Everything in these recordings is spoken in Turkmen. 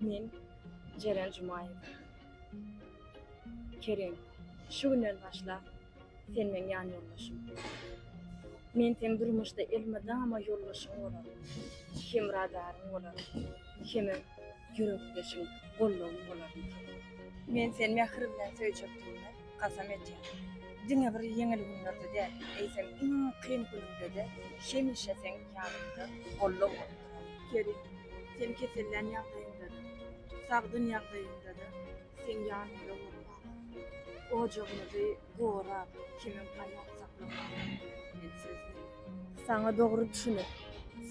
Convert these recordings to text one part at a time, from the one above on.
Men Jeren Jumaýew. Kerim, şu günden başlap, sen meň ýanýoldaşym. Men seň durmuşda elmydama ýoldaşyň bolaryn, hemradaryň bolaryn, hemem ýürekdeşiň, gollagyň bolaryn. Men seni mähir bilen söýjekdigime Kasam etýän, diňe bir ýeňil günlerde däl, eýsem iň kyn günümde-de hemişe seň ýanymda goldaw bolup duraryn. Kerim, sen kesellän ýagdaýyňda-da, sagdyn ýagdaýyňda-da seň ýanyňda bolmaga, ojagymyzy gorap, kemem gaýat saklamaga men söz berýän. Saňa dogry düşünip,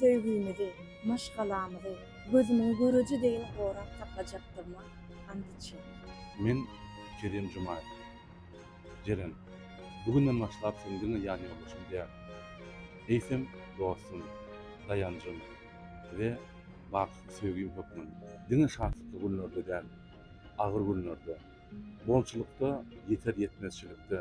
söýgümizi, maşgalamyzy gözümiň göreji deýin gorap saklajakdygyma Andijan. Men Kerim Jumaýew. Jeren, bu günden başlap sen diňe ýanýoldaşym däl, eýsem, dostum, daýanjym we baky söýgim hökmün. Diňe şatlykly günlerde däl, agyr günlerde, bolçulykda, ýeter-ýetmezçilikde,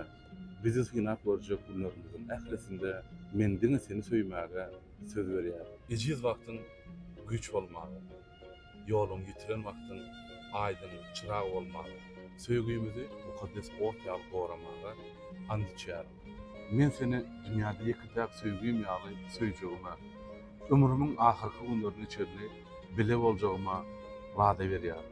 bizi synap görjek günlerimiziň ählisinde men diňe seni söýmäge söz berýärin. Ejiz wagtyň güýç bolmaga. Ýoluň ýitiren wagtyň aýdyň çyrag bolmaga, Söýgimizi mukaddes ot ýaly goramaga ant içýärin. Men seni dünýäde ýeke-täk söýgim ýaly söýjegime, ömrümiň ahyrky günlerine çenli bile boljagyma wada berýärin.